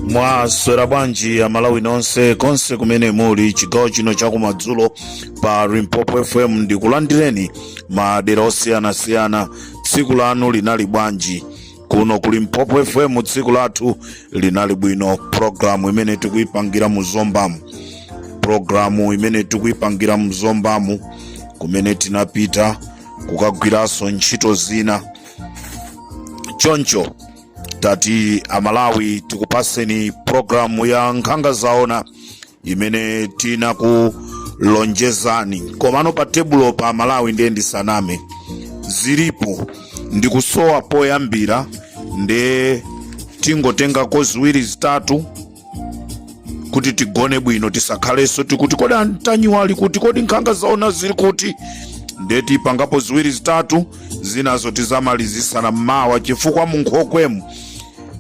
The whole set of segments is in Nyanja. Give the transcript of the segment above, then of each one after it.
mwaswera bwanji amalawi nonse konse kumene muli chigawo chino chakumadzulo pa limpopo fm ndikulandireni madera osiyanasiyana tsiku lanu linali bwanji kuno ku limpopo fm tsiku lathu linali bwino programu imene tikuyipangira mu zombamu programu imene tikuyipangira mu zombamu kumene tinapita kukagwiranso ntchito zina choncho tati amalawi tikupaseni programu ya nkhanga zaona imene tinakulonjezani komano pa tebulo pa malawi ndiye ndisaname zilipo ndikusowa poyambira nde tingotengako ziwiri zitatu kuti tigone bwino tisakhalenso tikuti kodi antanyiwa ali kuti kodi nkhanga zaona zili kuti nde tipangapo ziwiri zitatu zinazo tizamalizisana mmawa chifukwa munkhokwemu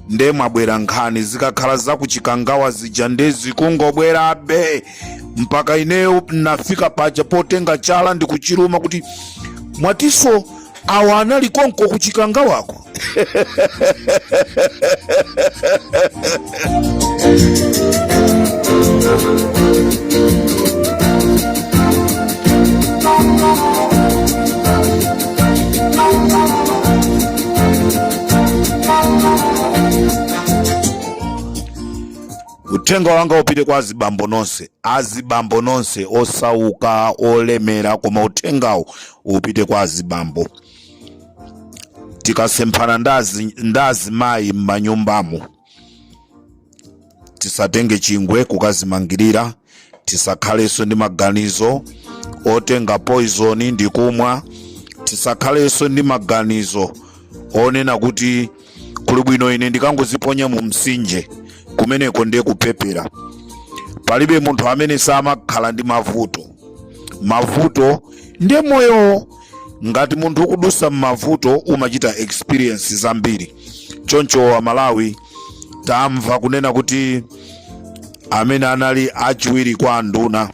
nde mwabwera nkhani zikakhala zakuchikangawa zija nde zikungobwerabe mpaka ineyo nafika paja potenga chala ndikuchiruma kuti mwatiso awa anali konko ku chikangawako uthenga wanga upite kwa azibambo nonse azibambo nonse osauka olemera koma uthengawo upite kwa azibambo tikasemphana ndazimayi m'manyumbamo tisatenge chingwe kukazimangirira tisakhalenso ndi maganizo otenga poizoni ndi kumwa tisakhalenso ndi maganizo onena kuti kuli bwino ine ndikangoziponya mu msinje kumeneko ndiye kupepera palibe munthu amene samakhala ndi mavuto mavuto ndiye moyo ngati munthu ukudusa m'mavuto umachita experience zambiri choncho amalawi tamva kunena kuti amene anali achiwiri kwa anduna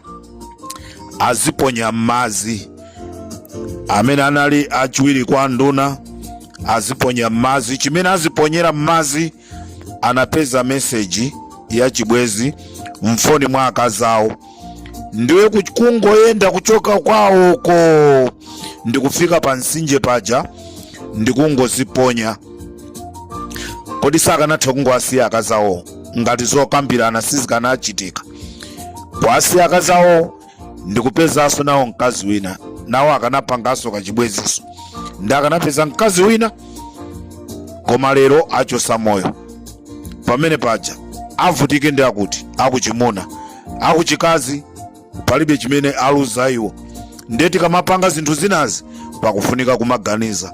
aziponya m'madzi amene anali achiwiri kwa anduna aziponya mmazi chimene aziponyera mmazi anapeza meseji ya chibwezi mfoni mwa akazi awo ndiye kungoyenda kuchoka kwawoko ndikufika pa msinje paja ndikungoziponya kodi sakanatha kungowasiya akazi awo ngati zokambirana sizikanachitika kuwasiya akazi awo ndikupezanso nawo mkazi wina nawo akanapanganso kachibwenzinso ndi akanapeza mkazi wina koma lero achosa moyo pamene paja avutike ndi akuti akuchimuna akuchikazi palibe chimene aluza iwo ndiye tikamapanga zinthu zinazi pakufunika kumaganiza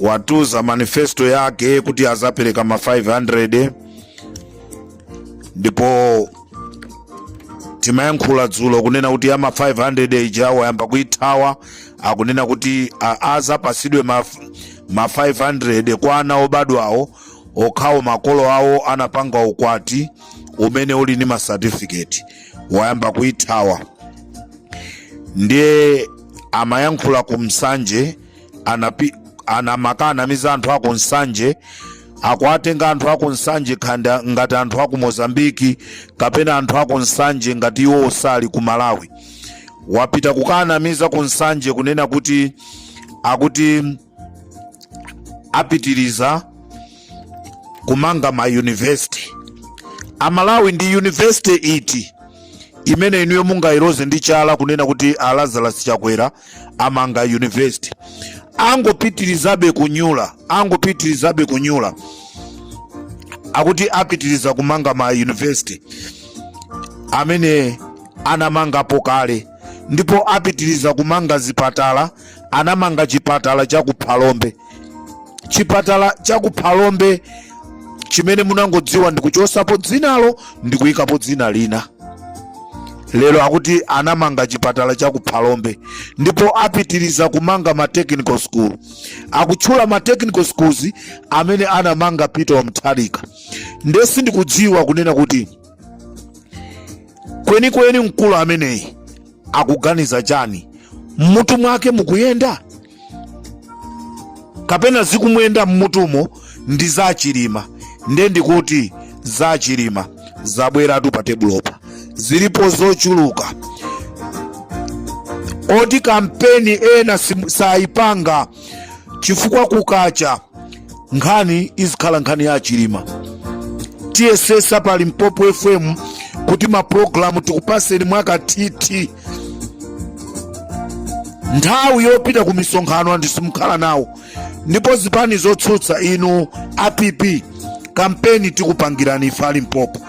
watuza manifesto yake kuti azapereka ma 500 ndipo timayankhula dzulo kunena kuti ya ma 500 ija wayamba kuithawa akunena kuti a- azapasidwe ma, ma 500 kwa ana obadwawo okhawo makolo awo anapanga ukwati umene uli ndi masatifiketi wayamba kuithawa ndiye amayankhula ku nsanje anapi, anamaka anamiza anthu aku nsanje akuwatenga anthu aku nsanje khanda ngati anthu aku mozambiki kapena anthu aku nsanje ngati iwo osali ku malawi wapita kukanamiza ku nsanje kunena kuti akuti apitiriza kumanga ma university amalawi ndi university iti imene inuyo mungayiloze ndi chala kunena kuti a lazarus chakwera amanga university angopitirizabe kunyula angopitirizabe kunyula akuti apitiriza kumanga ma university amene anamangapo kale ndipo apitiriza kumanga zipatala anamanga chipatala cha ku phalombe chipatala cha ku phalombe chimene munangodziwa ndikuchosapo dzinalo ndikuyikapo dzina lina lero akuti anamanga chipatala cha ku phalombe ndipo apitiriza kumanga ma technical school akutchula ma technical schools amene anamanga peter mutharika nde sindikudziwa kunena kuti kwenikweni mkulu ameneyi akuganiza chani mmutu mwake mukuyenda kapena zikumuyenda mmutumo ndi za chilima nde ndikuti za chilima zabweratu pa tebulopa zilipo zochuluka koti kampeni ena sim- sayipanga chifukwa kukacha nkhani izikhala nkhani ya a chilima tiyesesa pa limpopo fm kuti mapulogalamu tikupaseni mwakathithi nthawi yopita ku misonkhano anthu simukhala nawo ndipo zipani zotsutsa inu a pp kampeni tikupangirani ife a limpopo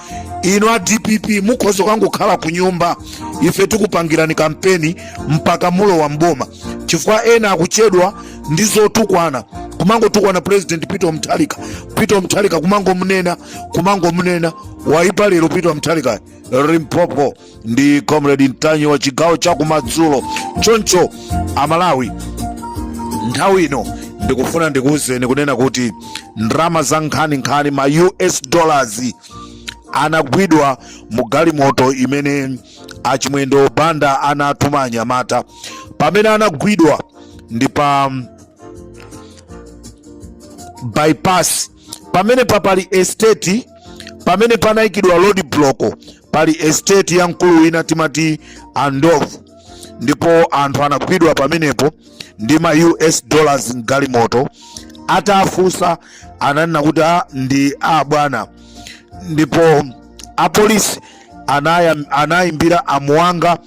inu a dpp mukhoza kukangokhala ku nyumba ife tikupangirani kampeni mpaka mulowa m'boma chifukwa ena akuchedwa ndi zotukwana kumangotukwana president peter mutharika peter mutharika kumangomunena kumangomunena waipa lero peter mutharika limpopo ndi comrade ntanyiwa chigawo cha kumadzulo choncho amalawi nthawi ino ndikufuna ndikuwuzeni kunena kuti ndalama za nkhaninkhani ma us dollars anagwidwa mu galimoto imene a Chimwendo Banda anatuma anyamata pamene anagwidwa ndi pa mm, bypass pamene pa pali estate pamene panayikidwa road block pali estate ya mkulu wina timati andovu ndipo anthu anagwidwa pamenepo ndi ma us dollars mgalimoto atafunsa ananena kuti "Ah, ndi abwana ndipo apolisi anayimbira amuwanga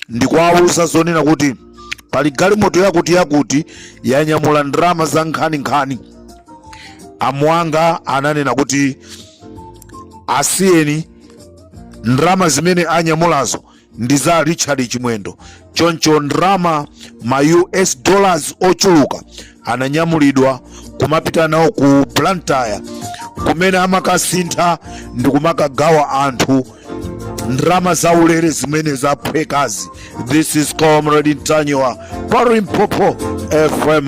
ndikuwawuza zonena kuti pali galimoto yakuti yakuti yanyamula ndalama za nkhaninkhani amuwanga ananena kuti asiyeni ndalama zimene anyamulazo ndi za richard chimwendo choncho ndalama ma us dollars ochuluka ananyamulidwa kumapita nawo ku blantyre kumene amakasintha ndi kumakagawa anthu ndalama zaulere zimene zaphwekazi this is comrade ntanyiwa pa limpopo fm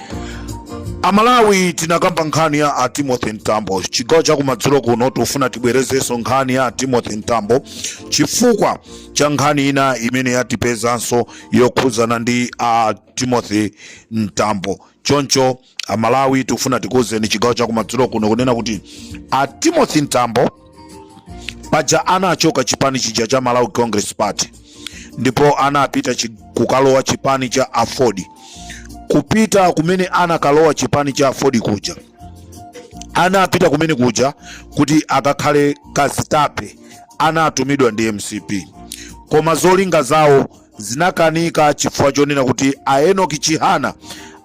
amalawi tinakamba nkhani ya a timothy mtambo chigawo cha kumadzulo kuno tikufuna tibwerezenso nkhani ya a timothy mtambo chifukwa cha nkhani ina imene yatipezanso yokhudzana ndi a timothy mtambo choncho amalawi tikufuna tikuwuzeni chigawo cha kumadzulo kuno kunena kuti a timothy mtambo paja anachoka chipani chija cha malawi congress party ndipo anapita chi, kukalowa chipani cha aford kupita kumene anakalowa chipani cha aford kuja anapita kumene kuja kuti akakhale kazitape anatumidwa ndi mcp koma zolinga zawo zinakanika chifukwa chonena kuti a enoki chihana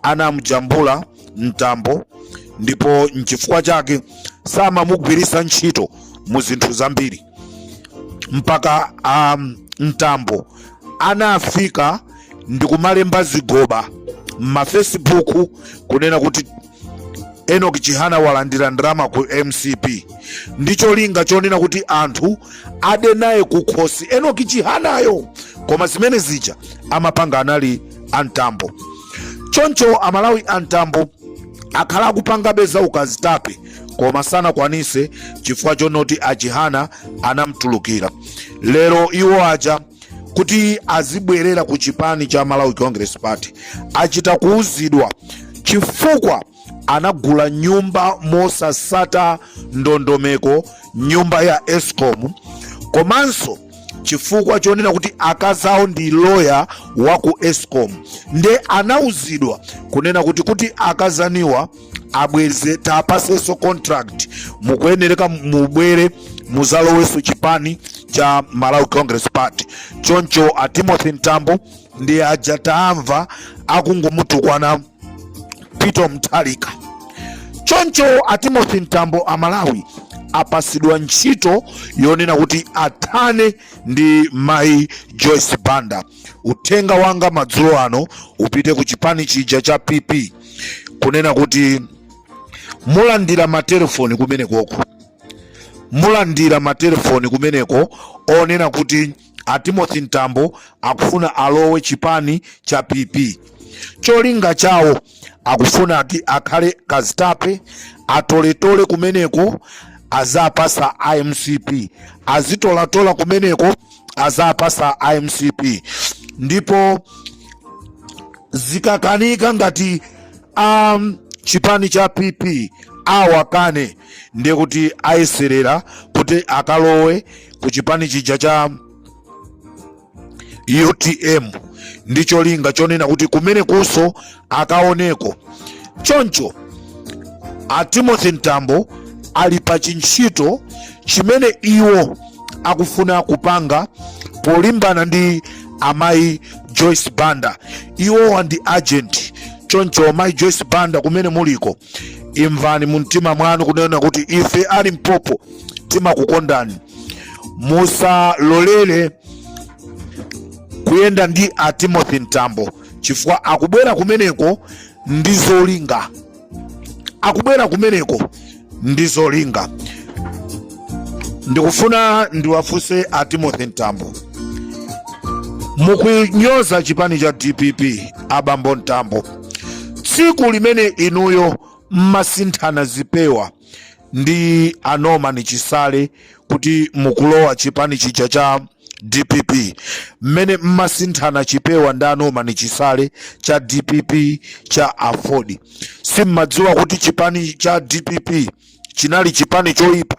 anamjambula mtambo ndipo nchifukwa chake samamugwiritsa ntchito mu zinthu zambiri mpaka um, mtambo anafika ndikumalemba zigoba m'mafacebook kunena kuti enoki chihana walandira ndalama ku mcp ndi cholinga chonena kuti anthu ade naye kukhosi enoki chihanayo koma zimene zija amapanga anali a mtambo choncho amalawi a mtambo akhala akupangabe za ukazitape koma sanakwanise chifukwa chonoti achihana anamtulukira lero iwo aja kuti azibwerera ku chipani cha malawi congress party achita kuuzidwa chifukwa anagula nyumba mosasata ndondomeko nyumba ya escom komanso chifukwa chonena kuti akazi awo ndi loya wa ku escom nde anauzidwa kunena kuti kuti akazaniwa abweze tapaseso contract mukuyenereka mubwere muzaloweso chipani cha malawi congress party choncho a timothy mtambo ndi aja tamva akungomutukwana peter mutharika choncho a timothy mtambo a malawi apasidwa ntchito yonena kuti athane ndi mai joyce banda uthenga wanga madzulo ano upite ku chipani chija cha pp kunena kuti mulandira matelefoni kumenekoko mulandira matelefoni kumeneko onena kuti a timothy mtambo akufuna alowe chipani cha pp cholinga chawo akufuna ati akhale kazitape atoletole kumeneko azapasa a mcp azitolatola kumeneko azapasa a mcp ndipo zikakanika ngati um, chipani cha pp awakane ndiye kuti ayeserera kuti akalowe ku chipani chija cha utm ndi cholinga chonena kuti kumenekuso akaoneko choncho a timothy mtambo ali pa chintchito chimene iwo akufuna kupanga polimbana ndi amayi joyce banda iwowa ndi agent choncho amayi joyce banda kumene muliko imvani mu mtima mwanu kunena kuti ife a limpopo timakukondani musalolere kuyenda ndi a timothy mtambo chifukwa akubwera kumeneko ndi zolinga akubwera kumeneko ndi zolinga ndikufuna ndiwafunse a timothy mtambo mukunyoza chipani cha dpp abambo mtambo tsiku limene inuyo mmasinthana zipewa ndi a Norman Chisale kuti mukulowa chipani chija cha DPP mmene mmasinthana chipewa ndi a Norman Chisale cha DPP cha Aford simmadziwa kuti chipani cha DPP chinali chipani choipa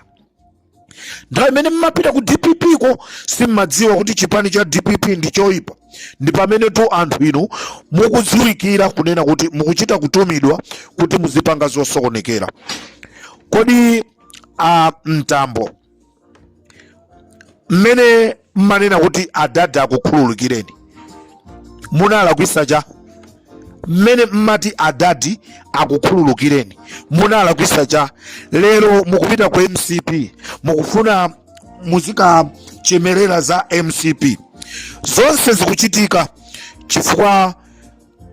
nthawi imene mmapita ku dpp ko simmadziwa kuti chipani cha dpp ndi choipa ndi pamene tu anthu inu mukudziwikira kunena kuti mukuchita kutumidwa kuti muzipanga zosokonekera kodi a mtambo mmene mmanena kuti adadi akukhululukireni munalakwisa cha mmene mmati adadi akukhululukireni munalakwisa cha lero mukupita ku mcp mukufuna muzikachemerera za mcp zonse zikuchitika chifukwa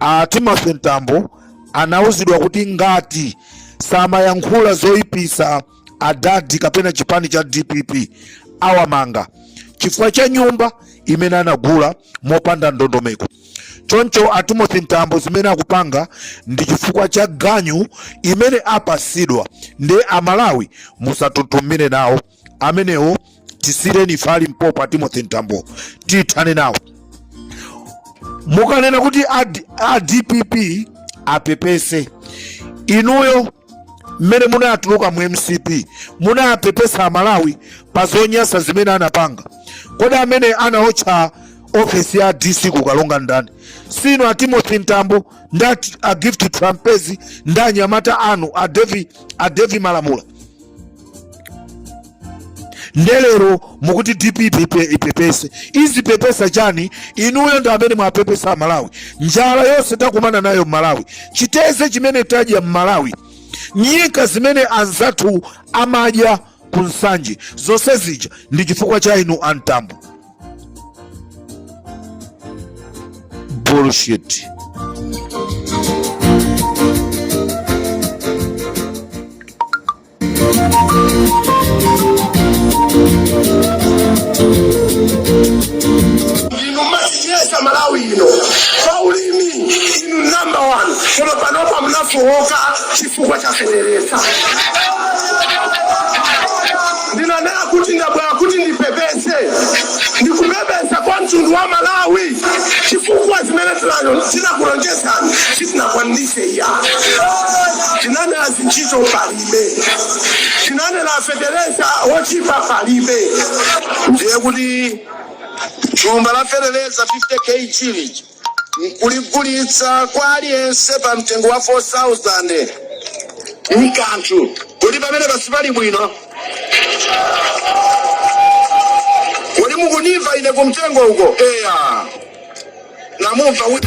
a timothy mtambo anauzidwa kuti ngati samayankhula zoyipisa adadi kapena chipani cha dpp awamanga chifukwa cha nyumba imene anagula mopanda ndondomeko choncho a timothy mtambo zimene akupanga ndi chifukwa cha ganyu imene apasidwa ndiye amalawi musatutumire nawo amenewo tisireni ife a limpopo a timothy mtambo tithane nawo mukanena kuti ad- a dpp apepese inuyo mmene munatuluka mu mcp munapepesa amalawi pa zonyasa zimene anapanga kodi amene anaotcha ofesi ya dc ku karonga ndani sinu a timothy mtambo nda a gift trapence nda anyamata anu a devi a devi malamula nde lero mukuti dpp ipepe- ipepese izipepesa chani inuyo ndi amene mwapepesa amalawi njala yonse takumana nayo mmalawi chiteze chimene tadya mmalawi nyika zimene anzathu amadya ku nsanje zonse zija ndi chifukwa cha inu a mtambo bullshit inu masiyesa malawi ino paulimi inu namba 1 koma panopa munafowoka chifukwa cha feteleza Ndinanena kuti ndabwera kuti ndipepese ndikupepesa kwa mtundu wa Malawi chifukwa zimene tinakulonjezani sitinakwanilise iyayi. Tinanena zintchito palibe. Tinanena feteleza wochipa palibe. Ndiye kuti thumba la feteleza 50 KG lija. n'kuligulitsa kwa aliyense pa mtengo wa 4,000 n'kanthu. Kodi pamenepa sipali bwino? Kodi mukundimva ine kumtengo uko? Eya, namumva wi-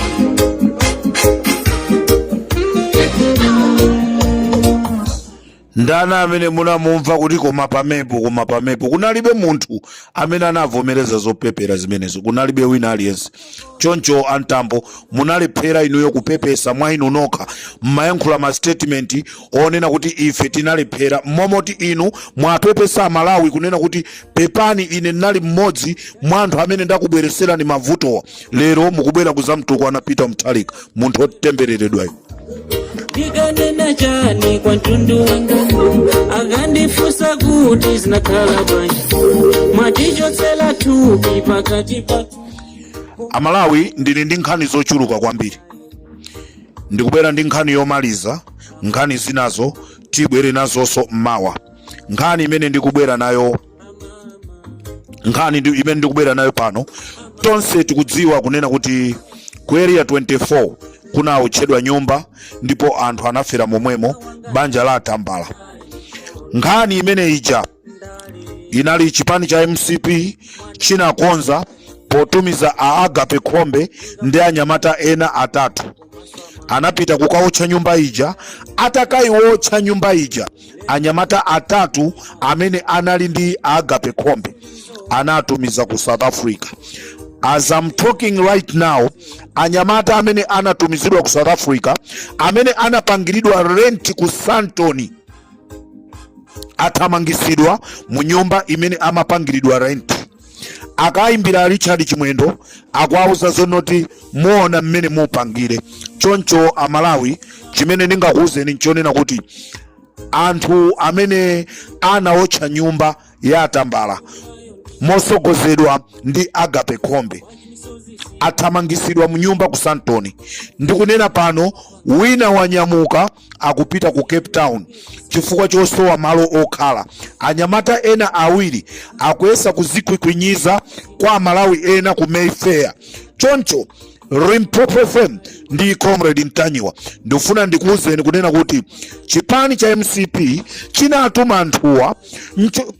Ndani amene munamumva kuti, Koma pamepo, koma pamepo? Kunalibe munthu amene anavomereza zopepera zimenezo, kunalibe wina aliyense. Choncho a Mtambo munalephera inuyo kupepesa mwa inu nokha. Mumayankhula ma statement onena kuti ife tinalephera, momoti inu mwapepesa Amalawi kunena kuti pepani, ine ndinali mmodzi mwa anthu amene ndakubweretserani mavutowa. Lero mukubwera kudzamtukwana Peter Mutharika, munthu wotembereredwayu. ndikanena chani kwa mtundu wanga akandifunsa kuti zinakhala bwanji mwatichotsera thupi pakati pa amalawi ndili ndi nkhani zochuluka kwambiri ndikubwera ndi nkhani yomaliza nkhani zinazo tibwere nazonso mmawa nkhani imene ndikubwera nayo nkhani imene ndikubwera nayo pano tonse tikudziwa kunena kuti ku area 24 kunaotchedwa nyumba ndipo anthu anafera momwemo banja la atambala nkhani imene ija inali chipani cha mcp chinakonza potumiza a agape khombe ndi anyamata ena atatu anapita kukaotcha nyumba ija atakayiwotcha nyumba ija anyamata atatu amene anali ndi agape khombe anawatumiza ku south africa as i'm talking right now anyamata amene anatumizidwa ku south africa amene anapangiridwa rent ku sandton athamangisidwa mu nyumba imene amapangiridwa rent akayimbira richard chimwendo akuwauza zonoti muona mmene mupangire choncho amalawi chimene ndingakuwuzeni nchonena kuti anthu amene anaotcha nyumba ya atambala mosogozedwa ndi agape khombe athamangisidwa mu nyumba ku sandton ndikunena pano wina wanyamuka akupita ku Cape Town chifukwa chosowa malo okhala. Anyamata ena awiri akuyesa kuzikhwikhwinyiza kwa Amalawi ena ku Mayfair. Choncho Limpopo FM ndi Comrade Ntanyiwa ndifuna ndikuwuzeni kunena kuti chipani cha MCP chinatuma anthuwa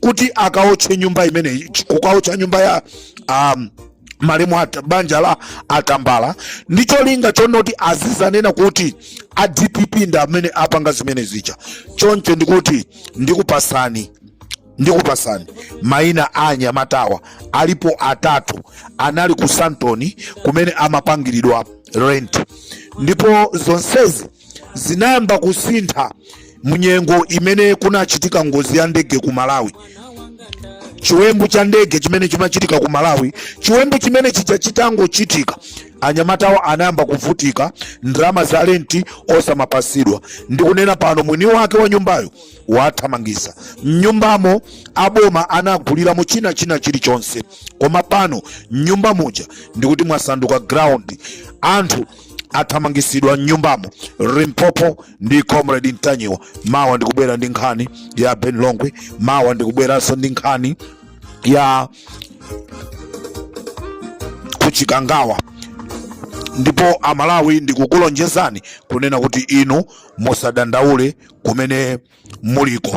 kuti akaotche nyumba imeneyi, kukaotcha nyumba ya um, malemu ata, banja la atambala ndi cholinga chonoti azizanena kuti a dpp ndi amene apanga zimene zija choncho ndikuti ndikupatsani ndikupatsani maina a anyamatawa alipo atatu anali ku sandton kumene amapangiridwa rent ndipo zonsezi zinayamba kusintha munyengo imene kunachitika ngozi ya ndege ku malawi chiwembu cha ndege chimene chinachitika ku malawi chiwembu chimene chija chitangochitika anyamatawo anayamba kuvutika ndalama za lenti osamapasidwa ndikunena pano mwini wake wa nyumbayo wawathamangisa mnyumbamo aboma anaguliramo china china chilichonse koma pano mnyumba muja ndikuti mwasanduka ground anthu athamangisidwa mnyumbamo limpopo ndi comrade ntanyiwa mawa ndikubwera ndi nkhani ya ben longwe mawa ndikubweranso ndi nkhani ya kuchikangawa ndipo amalawi ndikukulonjezani kunena kuti inu musadandaule kumene muliko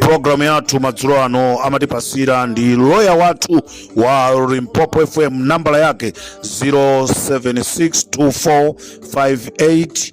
programu yathu madzulo ano amatipasira ndi loya wathu wa limpopo fm nambala yake 0762458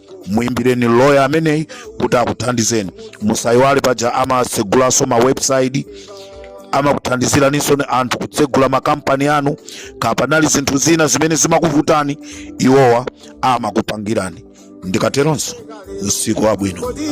muimbireni loya ameneyi kuti akuthandizeni musayiwale paja amatsegulanso ma website amakuthandiziraninso inu anthu kutsegula makampani anu kapenanso zinthu zina zimene zimakuvutani iwowa amakupangirani ndikateronso usiku wabwino